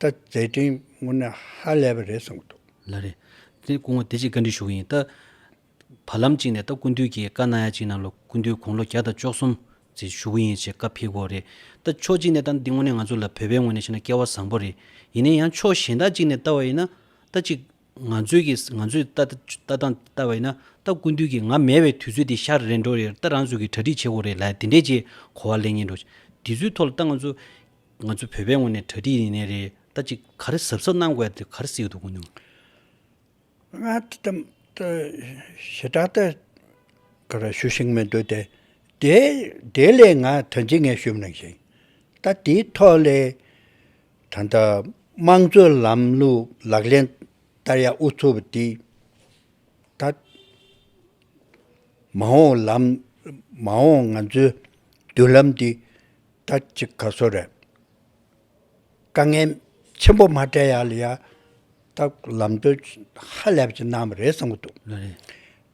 ད་མཛད་འཕྲིན་དངོས་གནས་ཧ་ལས་པ་རེད་གསུངས་འདུག། ལ་རེད། དེ་སྐུ་ངོ་བདེ་སྐྱིད་བཀའ་འདྲི་ཞུ་གི་ཡིན། ད་བར་ལམ་གཅིག་ནས་ད་སྐུ་མདུན་གྱིས་བཀའ་གནང་ཡ་གཅིག་གནང་ལོ་སྐུ་མདུན་དགུང་ལོ་བརྒྱ་དང་བཅོ་གསུམ་ཚེ་ཞུ་གི་ཡིན་ཞེས་བཀའ་ཕེབས་སྐོར་རེད། ད་ཕྱོགས་གཅིག་ནས་ད་འདི་དངོས་གནས་ང་ཚོ་ལ་བོད་པའི་ངོས་ནས་བཤད་ན་སྐལ་བ་བཟང་པོ་རེད། ཡིན་ནའི་ཡང་ཕྱོགས་གཞན་དག་ཅིག་ནས་བལྟ་བ་ཡིན་ན། ད་ཅིག་ང་ཚོས་ཀྱི་ང་ཚོས་ལྟ་སྟངས་བལྟ་བ་ཡིན་ན། ད་སྐུ་མདུན་གྱིས་ང་མེད་བའི་དུས་ཚོད་དེ་ཤར་རེད་འགྲོ་རེད་ད་རང་ཚོས་ཀྱི་གྲ་སྒྲིག་བྱེད་དགོས་རེད་ལ་དེ་འདྲས་ཀྱི་གོ་བ་ལེན་ངེས་འགྲོ། དེ་ཚོའི་ཐོག་ལ་ད་ང་ཚོ། ང་ཚོ་བོད་པའི་ངོས་ནས་གྲ་སྒྲིག་ཡིན་ནི་རེད་ད་ཅིག་ག་རེ་གཟབ་གཟབ་གནང་དགོས་དེ་ག་རེ་གཟིགས་འདུག་གོ་ནི། ང་དེ་ཙམ་དུ་ཞེ་དྲག་ཏུ་ག་རེ་ཞུ་ཞིག་མི་འདུག་དེ་དེ་ལས་ང་དོན་ཆེ་ངེས་ཞུ་མི་རུང་ཞིང་ད་དེའི་ཐོག་ལས་ད་ལྟ་དམངས་གཙོའི་ལམ་ལུགས་ལག་ལེན་བསྟར་ཡ་དབུ་ཚུགས་པ་དེ་ད་མ་འོངས་ལམ་མ་འོངས་ང་ཚོའི་མདུན་ལམ་དེ། ད་ཅི་ག་སོ་རེད། དཀའ་ངལ་ཆེན་པོ་མ་བྲལ་ཡག་ལ་ཡག་ད་ལམ་སྟོན་ཧ་ལས་པ་ཅིག་གནང་བ་རེད་བསམ་གྱི་འདུག།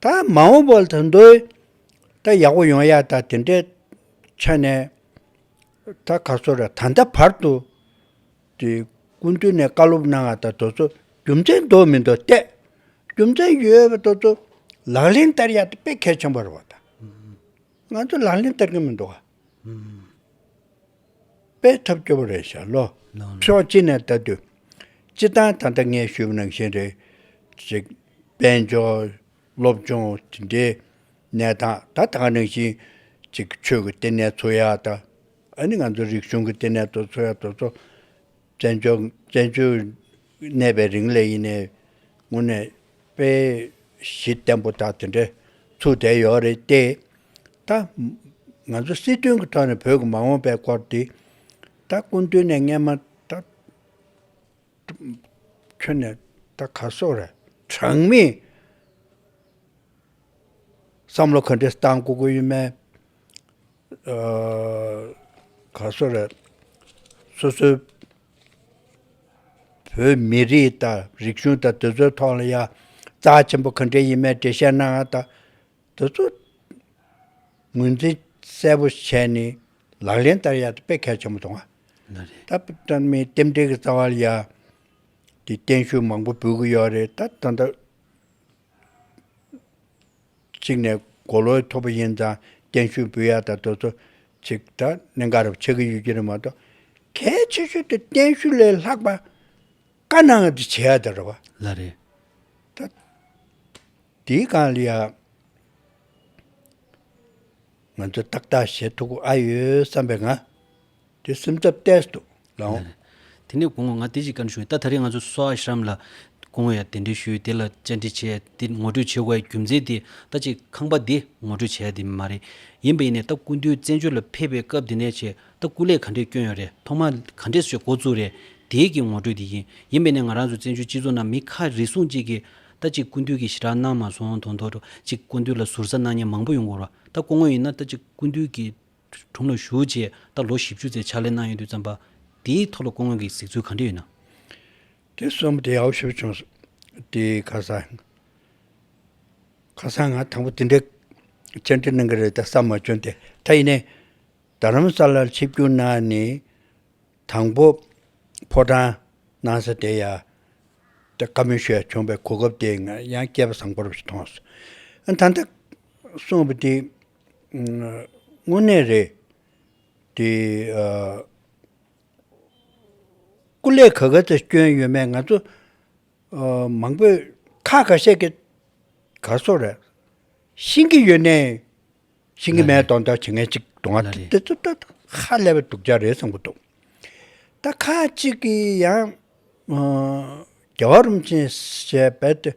ད་མ་འོངས་པར་ད་འདོད་ད་ཡག་པོ་ཡོང་ཡག་ད་དེ་འདྲའི་ཆ་ནས་ད་ག་སོ་རེད་ད་ལྟ་བར་དུ་དེ་སྐུ་མདུན་ནས་བཀའ་སློབ་གནང་བ་ད་དོ་ཚོ་རྒྱུ་མཚན་འདོག་མི་འདོག་བལྟས། རྒྱུ་མཚན་ཡོད་པ་དོ་ཚོ་ལག་ལེན་བསྟར་ཡག་ད་དཔེ་གལ་ཆེན་པོ་རེད་བ་ད། ང་ཚོ་ལག་ལེན་བསྟར་གྱི་མི་འདུག་ག། པའི་ཐབས་སྐྱོ་བོ་རེད་ཤག་ལོ། ཕྱོགས་གཅིག་ནས་ལྟ་དུས། སྤྱི་བཏང་ད་ལྟ་ངས་ཞུས་པ་ནང་བཞིན་རེད། ཅེས། དཔལ་འབྱོར། སློབ་སྦྱོང། དེ་འདྲའི། གནས་སྟངས་ད་ལྟ་ག་ནང་བཞིན། ཅིག་ཆོས་ཀྱི་ལྟེ་གནས་འཚོལ་ཡག་ད། ཨ་ནི་ང་ཚོའི་རིག་གཞུང་གི་ལྟེ་གནས་དོ་འཚོལ་ཡག་དོ་འཚོལ། བཙན་བྱོལ་བཙན་བྱོལ་གནས་པའི་རིང་ལས་ཡིན་ནའི་ངོ་ནས་དཔེ་གཞི་བརྟན་པོ་དག་དེ་འདྲའི་ཚུགས་བསྡད་ཡོད་རེད་དེ། ད་ང་ཚོ་སྲིད་དོན་གྱི་ཐོག་ནས་བོད་ཀྱི་མ་འོངས་པའི་སྐོར་དེ་ད་སྐུ་མདུན་ནས་སྔས་མ་ད་ཁྱོན་ནས་ད་ག་སོགས་རེད། གྲངས་མེད་བསམ་བློ་ག་འདྲས་བཏང་དགོས་ཀྱི་ཡོད་མེད། ག་སོ་རེད། སོ་སོའི་བོད་མི་རིགས་དང་རིག་གཞུང་དང་དེ་ཚོའི་ཐོག་ལ་ཡང་རྩ་ཆེན་པོ་གང་དྲན་ཡིན་མེད་དྲན་བཤད་གནང་དང། དེ་ཚོ་ངོས་འཛིན་གསལ་པོ་བྱས་ནས་ལག་ལེན་བསྟར་ཡག་དཔེ་གལ་ཆེན་པོ་གཏོང་བ། ད་ལྟ་མི་རྟེན་འབྲེལ་གྱི་རྩ་བ་ལ་ཡང་གཏན་ཤུགས་མང་པོ་འབུལ་གྱི་ཡོད་རེད་ད་ད། གཅིག་ནས་མགོ་ལོག་གི་ཐོག་པ་ཡིན་ཙང་གཏན་བཞུགས་འབུལ་ཡག་དང་དོལ་ཚོ་ཅིག་དྲ་གནས་འགའ་རུ་ཆགས་ཀྱི་ཡོད་ཀྱི་རེད་མ་གཏོགས། གལ་ཆེ་ཤོས་དེ་གཏན་བཞུགས་ལས་ལྷག་པ་དཀའ་ན་འང་དེ་བྱེད་ཡག་ད་རེད་བ། ལ་རེད། ད་དེའི་སྒང་ལ་ཡང་ང་ཚོས་ཏག་ཏག་བྱེད་ཐུབ་ཨ་ཡོད་བསམ་པའི་ང། དེ་སེམས་ཐབས་བསྟད་དོ་ལའོ། དེ་ནས་དགུང་ལོ་ང་སྟེ་གཅིག་ཀན་སུའུ་ཏཱ་ཐ་རིས་ང་ཚོ་སོ་ཨ་ཤཱམ་ལ་དགུང་བའི་གདན་འདྲེན་ཞུས་དེ་ལ་བཅར་འདྲི་བྱས་དེ་ངོ་སྤྲོད་བྱེད་དགོས་པའི་རྒྱུ་མཚན་དེ་ལྟ་ཅི་ཁང་པ་འདི་ངོ་སྤྲོད་བྱས་དེ་མ་རེད་ཡིན་པ་ཡིན་ནས་ད་སྐུ་མདུན་བཙན་བྱོལ་ལ་ཕེབས་པའི་སྐབས་དེ་ནས་བྱས་ད་སྐུ་ལས་ག་འདྲས་བསྐྱོན་ཡོད་རེད་ཐོག་མར་ག་འདྲས་བྱས་འགོ་བཙུགས་རེད་དེའི་གི་ངོ་སྤྲོད་དེ་ཡིན་ཡིན་པས་ནས་ང་རང་ཚོ་བཙན་བྱོལ་སྤྱི་ཚོགས་ནང་མི་ཁ་རེ་ཟུང་གཅིག་གིས་ད་ཅི་སྐུ་མདུན་གི་ཞི་དྲག་གནང་མ་སོང་དོ་མདོར་ཅིག་སྐུ་མདུན་ལ་ཟུར་ཟ་གནང་མྱལ་མང་པོ་ཡོང་གོ་རོ་ད་སྐུ་ངོ་ཡིན་ན་ད་ཅི་སྐུ་མདུན་གི་དྲུང་ལ་ཞུགས་རྗེས་ད་ལོ་བཞི་བཅུ་ཚེས་ཕྱག་ལས་གནང་ཡོད་དུས་བརྩམས་པ་དེའི་ཐོག་ལ་སྐུ་དངོས་ཀྱི་གཟིགས་ཚུལ་གང་འདྲ་ཡོད་ན། དེ་གསུམ་བདེ་ཡག་པོ་ཞུ་བྱུང་སོང། དེ་ཁ་སང་ང་དང་པོ་དེ་འདྲའི་བཅར་འདྲི་གནང་གི་རེད་ད་བསམ་མ་བྱུང་དེ་ད་ཡིན་ནའི་རྡ་རམ་ས་ལར་ཆིབས་བསྒྱུར་གནང་ནས་དང་པོ་ཕོ་བྲང་གནང་ས་དེ་ཡང་དེ་བཀའ་མོལ་ཞུ་ཡ་བྱུང་པའི་གོ་སྐབས་དེ་ཡང་སྐྱེས་པ་བཟང་པོ་རབ་ཞིག་མཐོང་སོང། ད་ལྟ་གསུངས་པ་དེ་དངོས་གནས་རེད། དེ། སྐུ་ལས་ག་ག་ཚོད་བསྐྱོན་ཡོད་མེད་ང་ཚོ། མང་པོས་ཁ་ག་བཤད་ཀྱི། ག་སོགས་རེད། ཤེས་ཀྱི་ཡོད་ནའི། ཤེས་ཀྱི་མེད་དང་ད་ཇི་ངན་ཅིག་དང་ང་དེ་ཚོ་ད་ཧ་ལས་པའི་སྡུག་ཅག་རེད་བསམ་གྱི་འདུག། ད་ཁ་ཅིག་གིས་ཡང། རྒྱ་བ་རུམ་ཆེན་ཞེས་རྦད་དེ།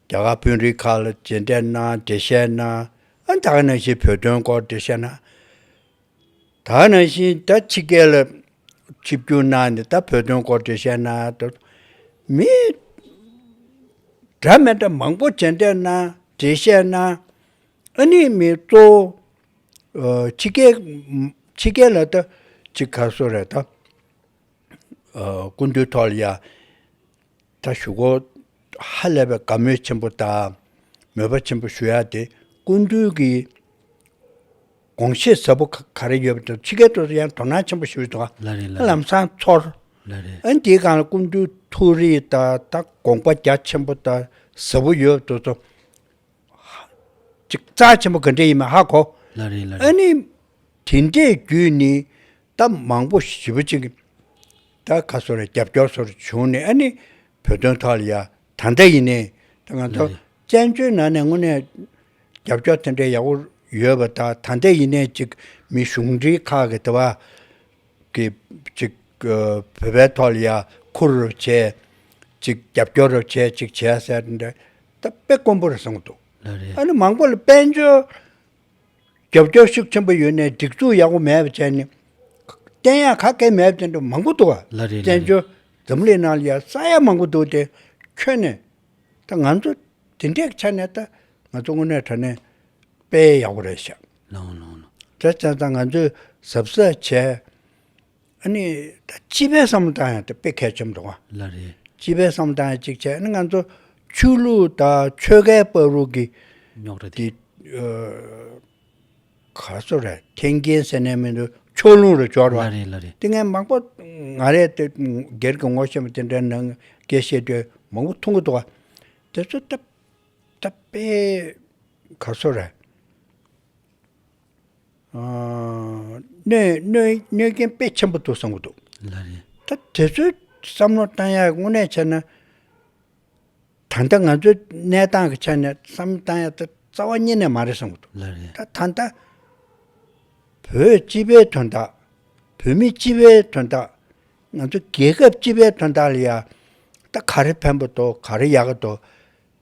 རྒྱ་གར་དཔོན་རིགས་ཁག་ལ་མཇལ་འཕྲད་གནང་འགྲེལ་བཤད་གནང། དག་ནང་བཞིན་བོད་དོན་སྐོར་འགྲེལ་བཤད་གནང། དག་ནང་བཞིན་ད་ཕྱི་རྒྱལ་ལ་ཆིབས་བསྒྱུར་གནང་ནས་ད་བོད་དོན་སྐོར་འགྲེལ་བཤད་གནང། མི་འདྲ་མི་འདྲ་མང་པོ་མཇལ་འཕྲད་གནང་འགྲེལ་བཤད་གནང། ཨ་ནི་མི་གཙོ་བོ་ཕྱི་རྒྱལ་ཕྱི་རྒྱལ་ལ་ད་ཕྱི་ག་སོ་རེད་ད་སྐུ་མདུན་ཐོག་ལ་ཡ། ད་ཞུ་གོ། ཧ་ལས་པའི་དགའ་མོས་ཆེན་པོ་དང་མོས་པ་ཆེན་པོ་ཞུ་ཡ་དེ་སྐུ་མདུན་གྱི་དགོངས་བཞེད་ཟབ་པོ་ག་རེ་ཡོད་པ་དེ་ཕྱི་རྒྱལ་དུ་ཡང་དོ་སྣང་ཆེན་པོ་ཞུས་འདུག་ལ་རེ་ལ་རེ། ལམ་སང་ཚོར། ལ་རེ། ཨ་འདིའི་སྒང་ལ་སྐུ་མདུན་ཐུགས་རེ་དང་དང་དགོངས་པ་རྒྱ་ཆེན་པོ་དང་ཟབ་པོ་ཡོད་དུ་སོང། ཅིག་རྩ་ཆེན་པོ་ག་འདྲས་ཡིན་མ་ཧ་གོ། ལ་རེ་ལ་རེ། ཨ་ནི་དེ་འདྲའི་རྒྱུད་ནི་སྟབས་མང་པོ་ཞིག་བྱིས་པ་གཅིག་ད་ག་སོ་ལ་རྒྱབ་སྐྱོར་སོར་བྱུང་ནས་ཨ་ནི་བོད་དོན་ཐོག་ལ་ཡ་ད་འདྲ་ཡིན་ནས་ད་ང་ཚོ་བཙན་བྱོལ་ནང་ནས་དངོས་གནས་རྒྱབ་སྐྱོར་དེ་འདྲ་ཡག་པོ་ཡོད་པ་ད་ད་འདྲ་ཡིན་ནས་ཅིག་མི་གཞུང་འབྲེལ་ཁག་གི་དེ་བ་གི་ཅིག་བོད་པའི་ཐོག་ལ་ཡ་འཁུར་རོགས་བྱས་ཅིག་རྒྱབ་སྐྱོར་རོགས་བྱས་ཅིག་བྱས་ཟེར་འདྲ་ད་དཔེ་དཀོན་པོ་རེད་གསུངས་འདུག་ཨ་ནི་མང་པོ་ལ་དཔལ་འབྱོར་རྒྱབ་སྐྱོར་ཤུགས་ཆེན་པོ་ཡོད་ནས་སྒྲིག་འཛུགས་ཡག་པོ་མེད་པ་བྱས་ནས། བསྟན་ཡག་ཁ་སྐད་མེད་བསྟན་འགྲོ་མང་པོ་འདུག་བ། ལ་རེད་ལ་བཙན་བྱོལ་རེད། འཛམ་གླིང་ནང་ལ་ཡག་ས་ཡག་མང་པོ་འདུག་དེ་ཁྱོན་ནས། ད་ང་ཚོ་དེ་འདྲའི་ཆ་ནས་ད་ང་ཚོ་དངོས་གནས་དྲ་གནས་སྤེལ་ཡག་པོ་རེད་བྱ། ལོང་ལོང་ལོང། དེ་བརྩན་ས་ང་ཚོས་གཟབ་གཟབ་བྱས། ཨ་ནི། ད་སྤྱི་པའི་བསམ་བློ་དང་ཡང་དེ་དཔེ་གལ་ཆེམ་འདུག་བ། ལ་རེད། སྤྱི་པའི་བསམ་བློ་དང་ཡང་གཅིག་བྱས་ཨ་ནི་ང་ཚོ་ཆོས་ལུགས་དང་ཆོལ་ཁའི་དཔའ་རུག་གི། རྙོག་གྲ་དེ། ག་ཚོད་རེད་ཐེན་རྒྱན་ཟེར་ནས་མི་འདུག་ཕྱོགས་ལྷུང་རུ་བྱོ་རུ་བ། ལ་རེད་ལ་རེད། དེ་ངས་མང་པོ། ང་རེད་དེ་སྒེར་གྱི་ངོ་ཤེས་མ་དེ་འདྲའི་ནང་སྐད་བཤད་དུས་མང་པོ་མཐོང་གི་འདུག་བ། དེ་ཚོ་ད། ད་དཔེ། ག་ཚོད་རེད། གནོད་སྐྱོན་དཔེ་ཆེན་པོ་འདུག་བསམ་གྱི་འདུག། ད་དེ་ཚོའི་བསམ་བློ་བཏང་ཡག་དངོས་གནས་བྱས་ན། ད་ལྟ་ང་ཚོའི་གནས་སྟངས་ཀྱི་ཆ་ནས་བསམ་བློ་བཏང་ཡག་ད་རྩ་བ་ཉིད་ནས་མ་རེད་བསམ་གྱི་འདུག། ད་ད་ལྟ་བོད་སྤྱི་པའི་དོན་དག་བོད་མི་སྤྱི་པའི་དོན་དག་ང་ཚོ་རྒྱལ་ཁབ་སྤྱི་པའི་དོན་དག་ལ་ཡང་ད་ག་རེ་ཕན་པ་འདུག་ག་རེ་ཡག་གི་འདུག།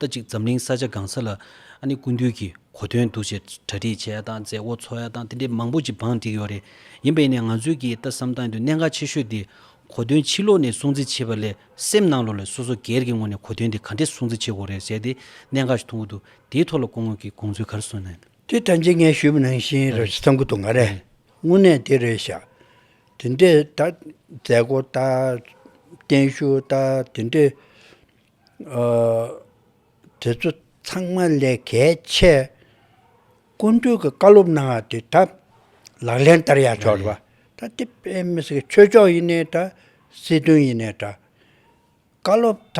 ཟླ་གཅིག་འཛམ་གླིང་ས་ཆ་སྒང་ས་ལ་ཨ་ནི་ཀུན་འདུས་ཀྱི་གོ་དོན་འདུ་ཞེས་གྲ་སྒྲིག་བྱས་ཡ་དང་མཛད་སྒོ་འཚོགས་ཡ་དང་དེ་འདྲའི་མང་པོ་ཅིག་བང་བསྒྲིགས་ཡོད་རེད་ཡིན་པས་ནས་ང་ཚོས་ཀྱིས་ལྟ་བསམ་བཏང་དུས་གནད་འགག་ཆེ་ཤོས་དེ་གོ་དོན་ཕྱི་ལོགས་ནས་སྲུང་བརྩི་བྱེད་པ་ལས་སེམས་ནང་ལོགས་ལས་སོ་སོ་སྒེར་གྱི་ངོས་ནས་གོ་དོན་དེ་ག་འདྲས་སྲུང་བརྩི་བྱེད་དགོས་རེད་ཟེར་ཏེ་གནད་འགག་ཅིག་མཐོང་གི་འདུག་དེའི་ཐོག་ལ་སྐུ་ངོས་ཀྱིས་དགོངས་ཚུལ་ག་རེ་གསུངས་ན། དེ་ཐམས་ཅད་ངས་ཞུས་མི་ནང་བཞིན་ར་བཞི་ཚང་གི་འདུག་ང་རེ་དངོས་གནས་དེ་རེད་ཤག་དེ་འདྲས་ད་མཛད་སྒོ་ད་བརྟན་བཞུགས་ད་དེ་འདྲས། དེ་ཚོ་ཚང་མ་ལས་གལ་ཆེ། སྐུ་མདུན་གྱི་བཀའ་སློབ་གནང་བ་དེ་ད་ལག་ལེན་བསྟར་ཡག་ཆོག་རེད་པ། ད་དེ་དཔེ་མི་སྲིད་ཆོས་ཕྱོགས་ཡིན་ནའི་ད་སྲིད་དོན་ཡིན་ནའི་ད། བཀའ་སློབ་ད་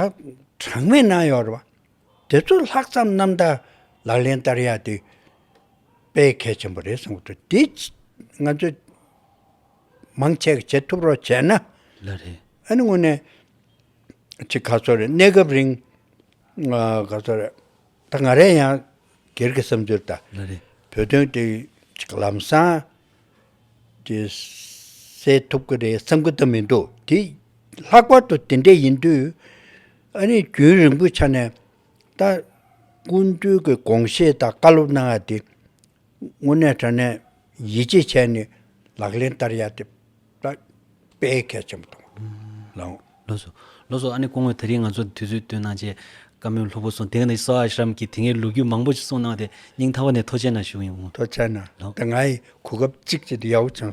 གྲངས་མེད་གནང་ཡོད་རེད་པ། དེ་ཚོ་ལྷག་བསམ་རྣམ་དག་ལག་ལེན་བསྟར་ཡག་དེ་དཔེ་གལ་ཆེན་པོ་རེད་བསམ་གྱི་འདུག་དེ་ང་ཚོས་མང་ཆེ་གེ་བྱེད་ཐུབ་རོགས་བྱས་ན། ལ་རེད། ཨ་ནི་དངོས་ནས། ཅི་ག་ཚོད་རེད་གནས་སྐབས་རིང་ག་ཚོད་རེད་ད་ང་རེ་ཡང་སྒེར་གྱི་བསམ་ཚུལ་ལྟར་བོད་དོན་དེ་ཅིག་ལམ་སང་དེ་སེལ་ཐུབ་ཀྱི་རེད་བསམ་གྱི་ད་མི་འདུག་དེ་ལྷག་པར་དུ་དེ་འདྲ་ཡིན་དུས་ཨ་རིས་རྒྱུན་རིང་པོའི་ཆ་ནས་ད་སྐུ་མདུན་གྱི་དགོངས་བཞེས་དང་བཀའ་སློབ་གནང་བ་དེ་དངོས་གནས་དྲན་ནས་ཡིད་ཆེས་བྱས་ནས་ལག་ལེན་བསྟར་ཡ་དེ་དཔེ་གལ་ཆེན་པོ་དང་ལོ། ལོ་སོ། ལོ་སོ་ཨ་ནི་སྐུ་ངོས་ད་རིང་ང་ཚོར་དུས་ཚོད་བསྟུན་གནང་ཆེད་བཀའ་མོལ་ལྷུག་པོ་གསུངས་དེ་ག་ནི་བསོ་ཨ་ཤྲཱམ་གྱི་དེ་སྔའི་ལོ་རྒྱུས་མང་པོ་ཞིག་གསུངས་གནང་བ་དེ་སྙིང་ཐག་པ་ནས་ཐོ་ཆེན་ན་བཞུགས་ཡོང། ཐོ་ཆེན་ན་དེ་སྔའི་གོ་སྐབས་གཅིག་བྱས་ཏེ་ཡའོ་ཆང